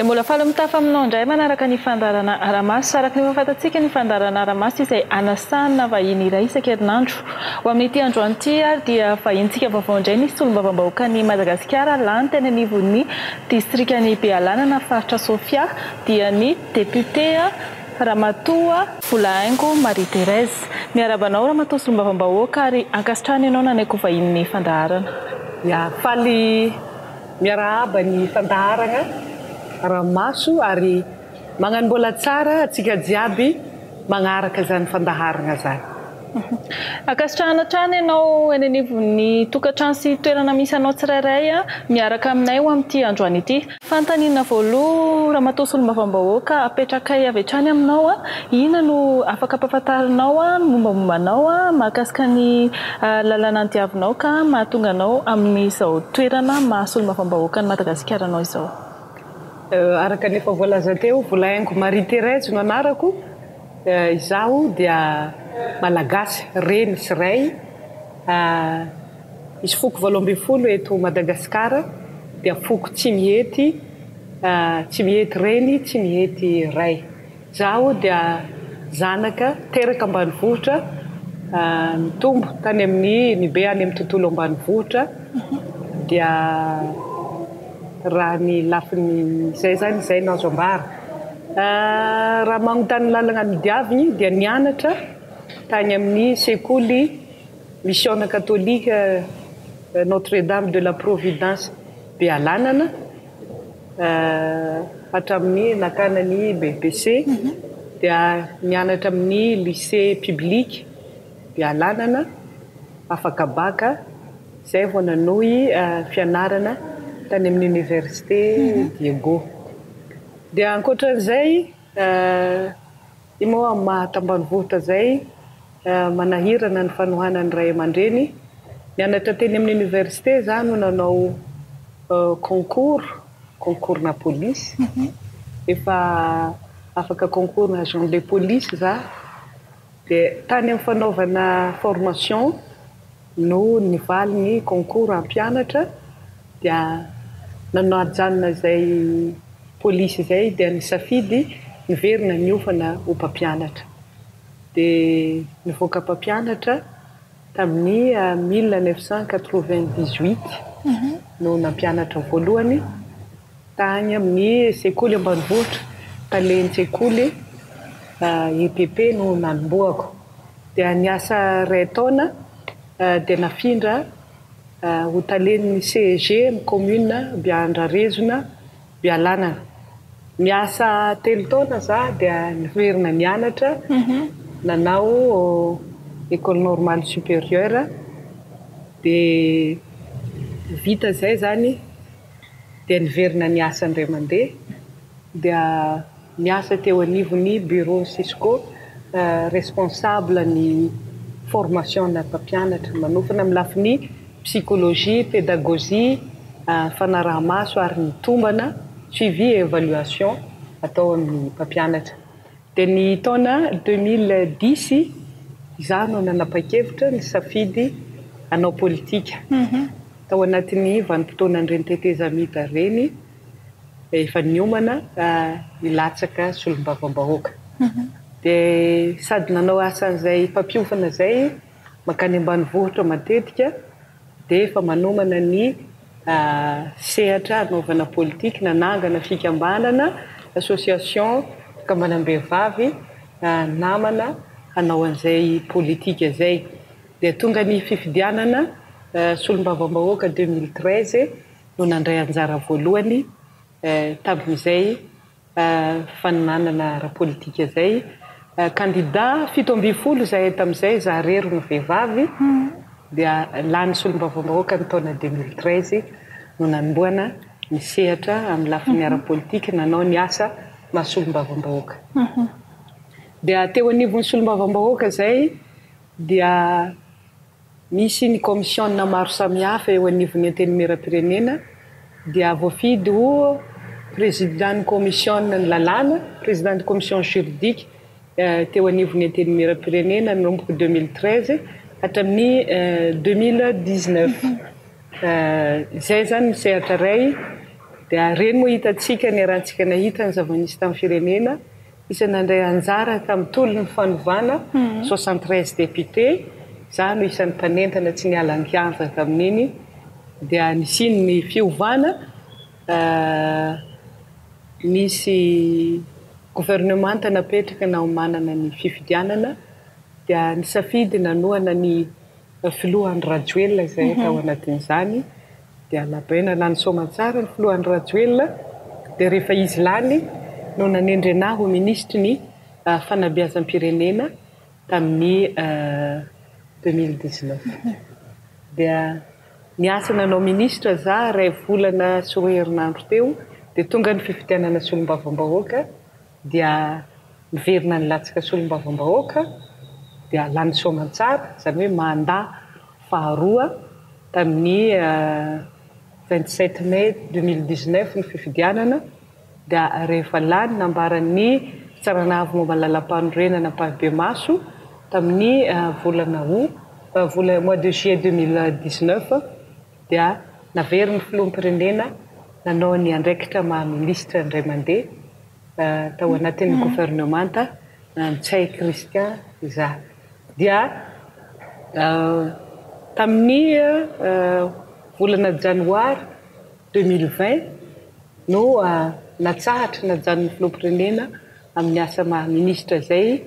Dia mbola faly mitafa aminao indray manaraka ny fandaharana Aramaso. Araka ny efa fantatsika, ny fandaharana Aramaso dia izay anasahana vahiny iray isan-kerinandro. Ho amin'ity androany ity ary dia vahintsika vaovao indray ny solombavambahoakan'i Madagasikara lany teny anivon'ny distrikan'i Bealanana, faritra Sofia, dia ny Député a, Ramatoa Volahaingo Marie Thérèse. Miarahaba anao Ramatoa Solombavambahoaka ary ankasitrahana ianao nanaiky ho vahinin'ny fandaharana. Ya, faly miarahaba ny fandaharagna Ramaso ary magnano mbola tsara antsika jiaby. manaraka izany fandaharana izany. Ankasitrahana hatrany ianao eny anivon'ny tokantrano sy toerana misy anao tsirairay miaraka aminay ho amin'ity androany ity. Fanontaniana voaloha Ramatoa Solombavambahoaka apetrakay avy hatrany aminao, inona no afaka ampahafantarinao ny mombamomba anao mahakasika ny lalana nodiavinao ka mahatonga anao amin'izao toerana maha Solombavambahoakan'i Madagasikara anao izao? Araka ny efa voalaza teo, Volahaingo Marie Thérèse no anarako. Izaho dia Malagasy reny sy ray. Misy foko valo ambin'ny folo eto Madagasikara, dia foko tsy mihety, tsy mihety reny, tsy mihety ray. Izaho dia zanaka teraka ambanivohitra, nitombo tany amin'ny, nibe any amin'ny tontolo ambanivohitra, dia raha ny lafiny izay izany izay no azo ambara. Raha manontany ny lalana nodiaviny dia nianatra tany amin'ny sekoly misiona katolika Notre Dame de la Providence Bealanana, Hatramin'ny nakana ny BEPC dia nianatra amin'ny lycée public Bealanana, afaka bac, izay vao nanohy fianarana tany amin'ny Université Diego. Dia ankoatra an'izay Io moa amin'ny maha tambanivohitra izay manahirana ny fanohanan'ny ray aman-dreny. Nianatra teny amin'ny oniversite za no nanao concours, concours-na police. Efa afaka concours-na agent de police za. Dia tany amin'ny fanaovana formation. Noho ny valin'ny concours hampianatra dia nanao hajanona izay polisy izay dia nisafidy niverina niofana ho mpampianatra. Dia nivoaka mpampianatra tamin'ny mille neuf cent quatre-vingt-dix-huit no nampianatra voalohany. Tany amin'ny sekoly ambanivohitra, talen-tsekoly, EPP, no nanombohako. Dia niasa iray taona dia nafindra ho talen'ny CEG amin'ny kaominina Beandrarezona, Bealanana. Niasa telo taona za dia niverina nianatra nanao Ecole Normale Supérieure dia vita izay izany. dia niverina niasa indray mandeha dia niasa teo anivon'ny bureau Cisco responsable ny formation ana mpampianatra manofana amin'ny lafiny psychologie, pédagogie, fanaraha-maso ary ny tombana, suivi et évaluation, atao amin'ny mpampianatra. Dia ny taona deux mille dix izaho no nanapa-kevitra nisafidy hanao politika. Tao anatin'ny vanim-potoanan'ireny tetezamita ireny dia efa niomana hilatsaka solombavambahoaka. Dia sady nanao asan'izay mpampiofana izay mankany ambanivohitra matetika dia efa manomana ny sehatra hanaovana politika, nanangana fikambanana, association, fikambanam-behivavy namana hanao an'izay politika izay. dia tonga ny fifidianana solombavambahoaka deux mille treize no nandray anjara voalohany tamin'izay faninanana ara-politika izay. Kandida fito ambin'ny folo izahay tamin'izay, za rery no vehivavy, dia lany solombavambahoaka ny taona deux mille treize no nanombohana ny sehatra amin'ny lafiny ara-politika nanao ny asa maha solombavambahoaka. Dia teo anivon'ny solombavambahoaka izay dia misy ny kaomisiona maro samihafa eo anivon'ny Antenimierampirenena dia voafidy ho Président-n'ny kaomisiona ny lalàna, Président de commission juridique, teo anivon'ny Antenimierampirenena nanomboka deux mille treize hatramin'ny deux mille dix neuf. Izay izany ny sehatra iray dia ireny moa hitantsika niarahantsika nahita ny zava-nisy tamin'ny firenena. izay nandray anjara tamin'ny tolon'ny fanovana, soixante treize députés, izaho no isan'ny mpanentana tsy niala an-kianja tamin'iny, dia nisiany ny fiovana, nisy governemanta napetraka naomanana ny fifidianana, dia nisafidy nanohana ny. Filoha Andry Rajoelina izay tao anatin'izany dia labaina lany soamantsara ny filoha Andry Rajoelina dia rehefa izy lany no nanendrena ahy ho minisitry ny fanabeazam-pirenena tamin'ny deux mille dix neuf dia niasa nanao minisitra za iray volana sy roa herinandro teo dia tonga ny fifidianana solombavambahoaka dia miverina ny latsaka solombavambahoaka dia lany soamantsara izany hoe mandat faharoa tamin'ny vingt sept mai deux mille dix neuf ny fifidianana dia rehefa lany nambaran'ny fitsarana avo momba ny lalampanorenana ampahibemaso tamin'ny volana aout mois de juillet deux mille dix neuf dia naverin'ny filoham-pirenena nanao ny andraikitra maha minisitra indray mandeha tao anatin'ny governemanta Ntsay Christian izaho. Dia tamin'ny volana janoary deux mille vingt no natsahatra najanon'ny filoham-pirenena amin'ny asa maha minisitra izay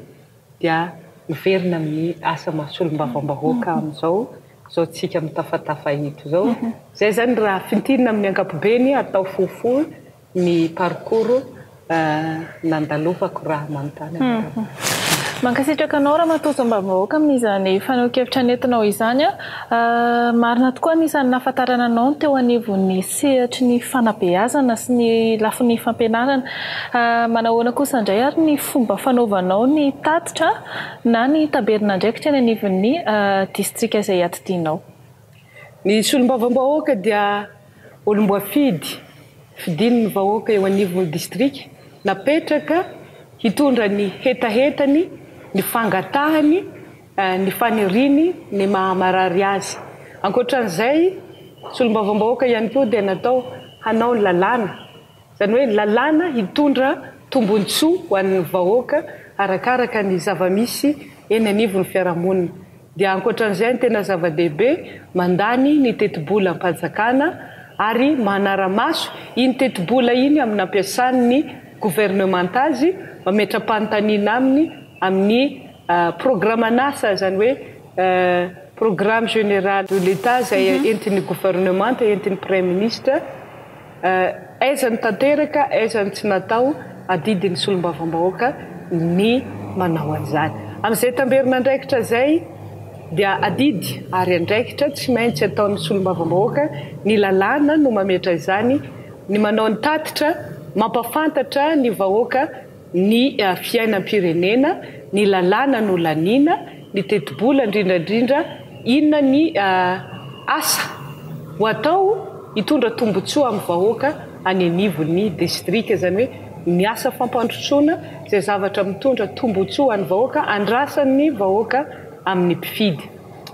dia miverina amin'ny asa maha solombavambahoaka amin'izao izao tsika mitafatafa eto izao. Izay izany raha fintinina amin'ny ankapobeny, atao fohifohy ny parcours nandalovako raha manontany anareo. Mankasitraka anao Ramatoa Solombavambahoaka amin'izany fanehoan-kevitra nentinao izany. Marina tokoa ny isan'ny nahafantarana anao ny teo anivon'ny. sehatry ny fanabeazana sy ny lafiny fampianarana. Manahoana kosa indray ary ny fomba fanaovanao ny tatitra na ny taberin'andraikitra eny anivon'ny distrika izay iadidianao? Ny solombavambahoaka dia olom-boafidy fidin'ny vahoaka eo anivon'ny distrika, napetraka hitondra ny hetahetany, ny fangatahany, ny faniriany ny maha-marary azy. Ankoatran'izay, solombavambahoaka ihany koa dia natao hanao ny lalàna, izany hoe lalàna hitondra tombontsoa ho an'ny vahoaka arakaraka ny zava-misy eny anivon'ny fiarahamonina. Dia ankoatran'izay, ny tena zava-dehibe, mandany ny tetibolam-panjakana ary manara-maso iny tetibola iny amin'ny nampiasan'ny governemanta azy, mametra-panontaniana aminy amin'ny. Programan'asa, izany hoe Programme général de l'Etat, izay entin'ny governemanta, entin'ny Praiminisitra, aiza no tanteraka, aiza no tsy natao, adidin'ny Solombavambahoaka ny manao an'izany. Amin'izay tamberin'andraikitra izay dia adidy ary andraikitra tsy maintsy ataon'ny Solombavambahoaka, ny lalàna no mametra izany, ny manao ny tatitra, mampafantatra ny vahoaka ny fiainam-pirenena, ny lalàna nolaniana, ny tetibola indrindra indrindra inona ny asa ho atao hitondra tombontsoa amin'ny vahoaka any anivon'ny distrika, izany hoe ny asa fampandrosoana izay zavatra mitondra tombontsoa ho an'ny vahoaka, andrasan'ny vahoaka amin'ny mpifidy.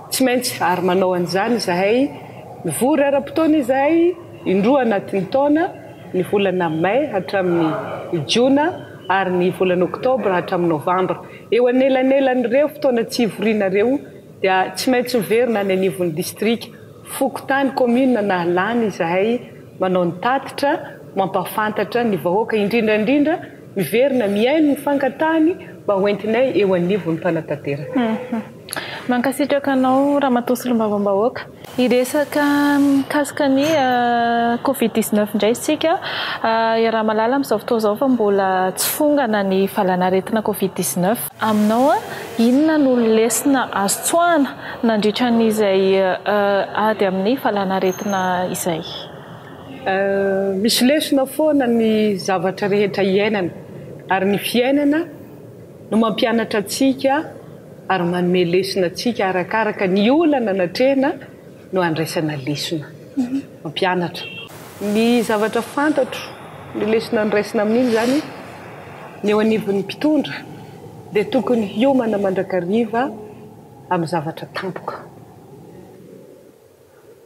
Tsy maintsy ary manao an'izany izahay, mivory ara-potoana izahay indroa anatin'ny taona, ny volana Mai hatramin'ny Jona ary ny volana Oktobra hatramin'ny Novambra. Eo anelanelan'ireo fotoana tsy hivoriana ireo dia tsy maintsy miverina any anivon'ny distrika, fokontany, kaominina na lany izahay manao ny tatitra mampahafantatra ny vahoaka indrindra indrindra miverina mihaino ny fangatahany mba hoentinay eo anivon'ny mpanatanteraka. Mankasitraka anao Ramatoa Solombavambahoaka. Hiresaka mikasika ny covid dix-neuf indray isika i Ramalala amin'izao fotoana izao fa mbola tsy fongana ny valanaretina covid dix-neuf. Aminao, inona no lesona azo tsoahina nandritra an'izay ady amin'ny valanaretina izay? Misy lesona foana ny zavatra rehetra iainana ary ny fiainana no mampianatra antsika ary manome lesona antsika arakaraka ny olana natrehina no andraisana lesona. Mampianatra. Ny zavatra fantatro, ny lesona noraisina amin'iny izany, ny eo anivon'ny mpitondra dia tokony hiomana mandrakariva amin'ny zavatra tampoka.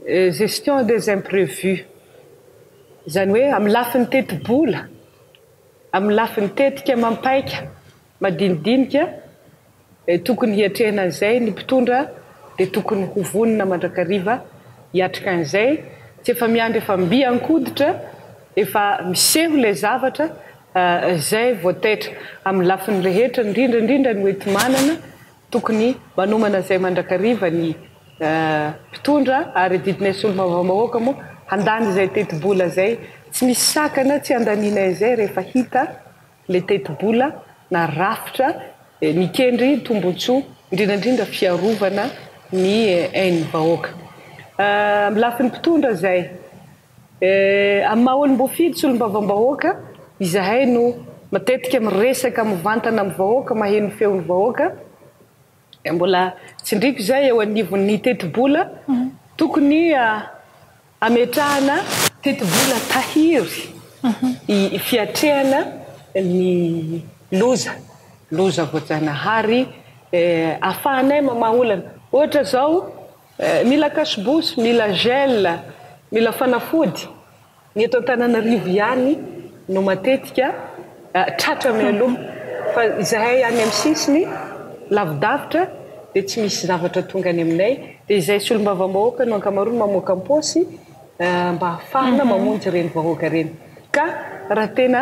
Gestion des imprévus. Izany hoe amin'ny lafiny tetibola, Amin'ny lafiny tetika mampaika madinidinika, tokony hiatrehina an'izay ny mpitondra dia tokony ho vonona mandrakariva hiatrika an'izay, tsy efa miandry efa mby an-koditra, efa miseho ilay zavatra, izay vao taitra. Amin'ny lafiny rehetra, indrindra indrindra ny hoenti-manana, Tokony manomana izay mandrakariva ny mpitondra ary adidinay solombavambahoaka moa handany izay tetibola izay, tsy misy sakana tsy handaninay izay rehefa hita ilay tetibola na rafitra mikendry tombon-tsoa indrindra indrindra fiarovana ny ain'ny vahoaka. Amin'ny lafiny mpitondra izay. Amin'ny maha olom-boafidy sy olom-bavam-bahoaka, izahay no matetika miresaka mivantana amin'ny vahoaka, maheno ny feon'ny vahoaka. Mbola tsindriako izay eo anivon'ny tetibola, tokony hametrahana tetibola tahiry fiatrehana ny loza, loza voajanahary, ahafahanay mamaha olana. Ohatra izao. Eh, mila cache-bouche, mila gel, mila fanafody. Ny eto Antananarivo ihany no matetika tratra mialoha, fa izahay any amin'ny sisiny lavidavitra dia tsy misy zavatra tonga any aminay, dia izay solombavambahoaka no ankamaroany mamoaka am-paosy mba ahafahana mamonjy ireny vahoaka ireny, ka raha tena.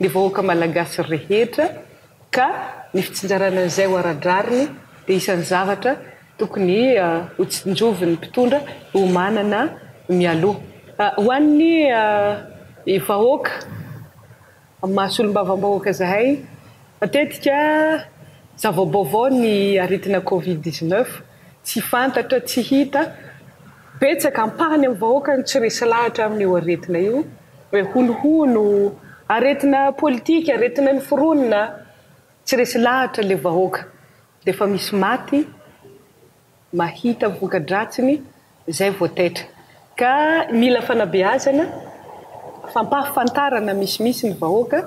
ny vahoaka malagasy rehetra ka ny fitsinjarana izay ho ara-drariny dia isan'ny zavatra tokony hotsinjovin'ny mpitondra ho manana mialoha. Ho an'ny vahoaka maha solombavambahoaka zahay matetika zava-baovao ny aretina covid dix-neuf tsy fantatra tsy hita Betsaka ampahany amin'ny vahoaka no tsy resy lahatra amin'io aretina io hoe honohono, aretina politika, aretina noforonina, tsy resy lahatra ilay vahoaka dia efa misy maty mahita ny voka-dratsiny izay vao taitra ka mila fanabeazana, fampahafantarana misimisy ny vahoaka.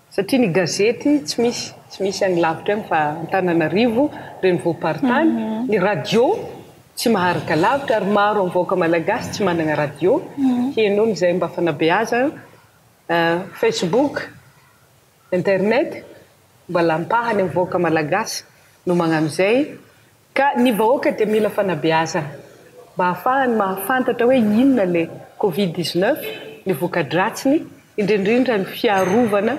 Satria ny gazety tsy misy, tsy misy any lavitra any fa Antananarivo, renivohi-paritany, ny radio tsy maharaka lavitra ary maro amin'ny vahoaka malagasy tsy manana radio, heno ny izay mba fanabeazana, facebook, internet, mba lampahany amin'ny vahoaka malagasy no magnano izay. Ka ny vahoaka dia mila fanabeazana mba hahafahany mahafantatra hoe inona le covid dix neuf, ny vokadratsiny, indrindrindra ny fiarovana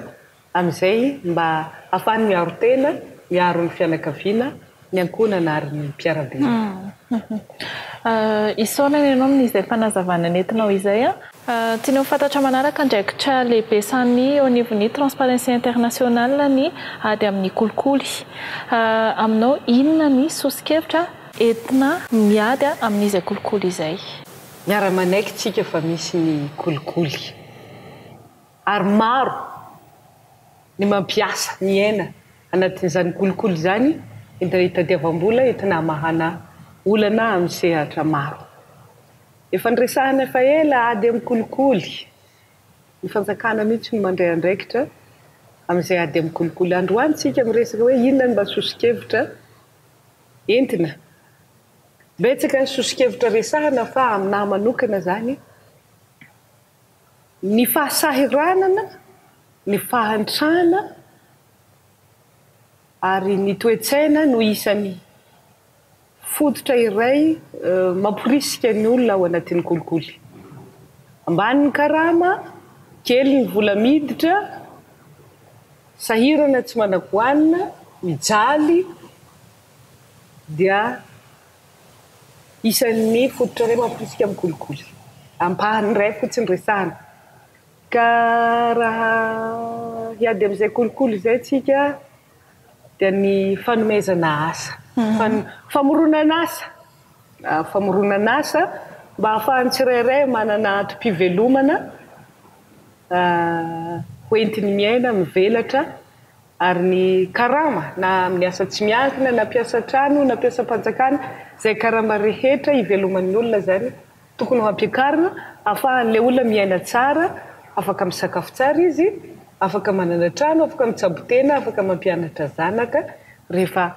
amin'izay mba hahafahany miaro tena, miaro ny fianakaviana, ny ankohonana ary ny mpiara-belona. Isaorana ianao amin'izay fanazavana nentinao izay. Tiany ho fantatra manaraka andraikitra lehibe samy eo anivon'ny Transparency International ny ady amin'ny kolikoly. Aminao, inona ny soso-kevitra entina miady amin'izay kolikoly izay? Miara-manaiky tsika fa misy ny kolikoly ary maro ny mampiasa, miaina anatin'izany kolikoly izany entina hitadiavam-bola, entina hamahana olana amin'ny sehatra maro. Efa niresahana efa ela ady amin'ny kolikoly. Ny fanjakana mihitsy no mandray andraikitra amin'izay ady amin'ny kolikoly. Androany isika miresaka hoe inona ny mba soso-kevitra entina. Betsaka ny soso-kevitra resahana fa amin'ahy manokana izany, ny fahasahiranana, ny fahantrana ary ny toe-tsaina no isan'ny. Fototra iray mamporisika ny olona ao anatin'ny kolikoly. Ambany ny karama, kely ny vola miditra, sahirana tsy managoanina, mijaly, dia isan'ny fototra iray mamporisika amin'ny kolikoly. Ampahany iray fotsiny resahana. Ka raha hiady amin'izay kolikoly izay isika, dia ny fanomezana asa, famoronan'asa, famoronan'asa mba ahafahan'ny tsirairay manana antom-pivelomana ho entiny miaina, mivelatra, ary ny karama na amin'ny asa tsy miankina na mpiasa an-trano na mpiasam-panjakana, izay karama rehetra iveloman'ny olona izany. Tokony ho ampiakarina afahan'ilay olona miaina tsara, afaka misakafo tsara izy, afaka manana trano, afaka mitsabo tena, afaka mampianatra zanaka, rehefa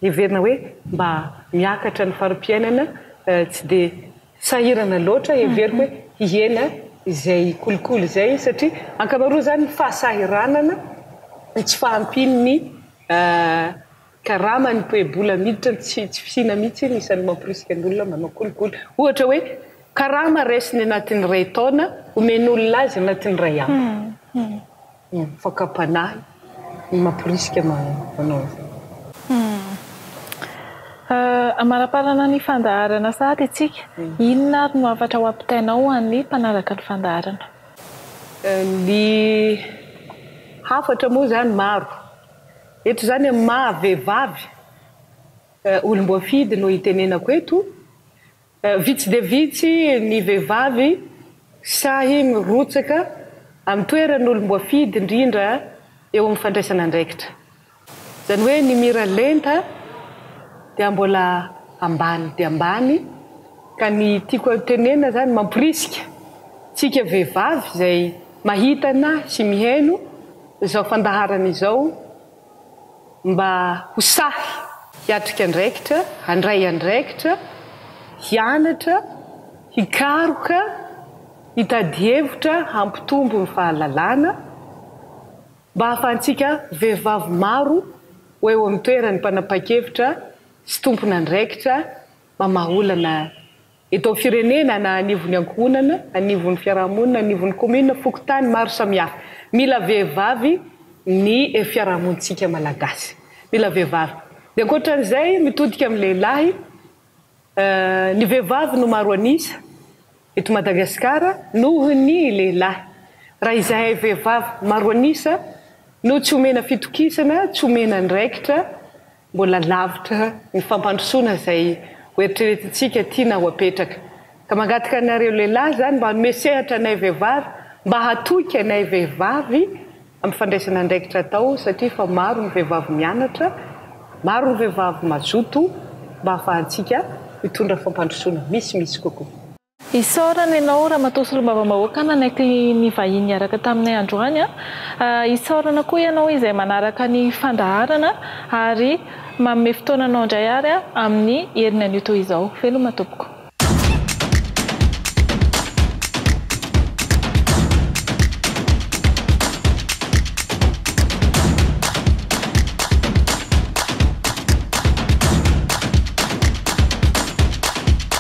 heverina hoe mba miakatra ny fari-piainana, tsy dia sahirana loatra heveriko hoe hihena izay kolikoly izay izy satria ankamaroan'izany fahasahiranana, tsy fahampian'ny. Karama ny toe-bola miditra ny tsy fisiana mihitsy no isan'ny mamporisika ny olona manao kolikoly. Ohatra hoe, karama raisiny anatin'ny iray taona, omen'olona azy anatin'ny iray andro. Fakam-panahy no mamporisika manao an'izany. Amaraparana ny fandaharana sahady isika. Inona ary no hafatra ho ampitainao ho an'ny mpanaraka ny fandaharana? Ny hafatra moa izany maro. Eto izany amin'ny maha vehivavy olom-boafidy no itenenako eto. Vitsy dia vitsy ny vehivavy sahy mirotsaka amin'ny toeran'olom-boafidy indrindra eo amin'ny fandraisana andraikitra. Izany hoe ny mira lenta dia mbola ambany dia ambany ka ny tiako hotenenina izany mamporisika antsika vehivavy izay mahita anah sy mihaino, Izao fandaharana izao mba ho sahy hiatrika andraikitra, handray andraikitra, hianatra, hikaroka, hitady hevitra hampitombo ny fahalalana, mba hahafahantsika vehivavy maro ho eo amin'ny toerany mpanapa-kevitra sy tompon'andraikitra mamaha olana Eto amin'ny firenena, na anivon'ny ankohonana, anivon'ny fiarahamonina, anivon'ny commune, fokontany maro samihafa. Mila vehivavy ny fiarahamonintsika malagasy. Mila vehivavy. Dia ankoatran'izay, mitodika amin'ny lehilahy, ny vehivavy no maro an'isa eto Madagasikara noho ny lehilahy. Raha izahay vehivavy maro an'isa no tsy omena fitokisana, tsy omena andraikitra, Mbola lavitra ny fampandrosoana izay hoeritreretintsika tiana ho apetraka. Ka mangataka anareo lehilahy izany mba hanome sehatra anay vehivavy, mba hatoky anay vehivavy amin'ny fandraisana andraikitra atao satria efa maro ny vehivavy mianatra, maro ny vehivavy mazoto mba hahafahantsika hitondra fampandrosoana misimisy kokoa. Isaorana ianao Ramatoa Solombavambahoaka nanaiky ny vahiny niaraka taminay androany. Isaorana koa ianao izay manaraka ny fandaharana ary manome fotoananao indray ary amin'ny heriny anio toy izao. Veloma tompoko.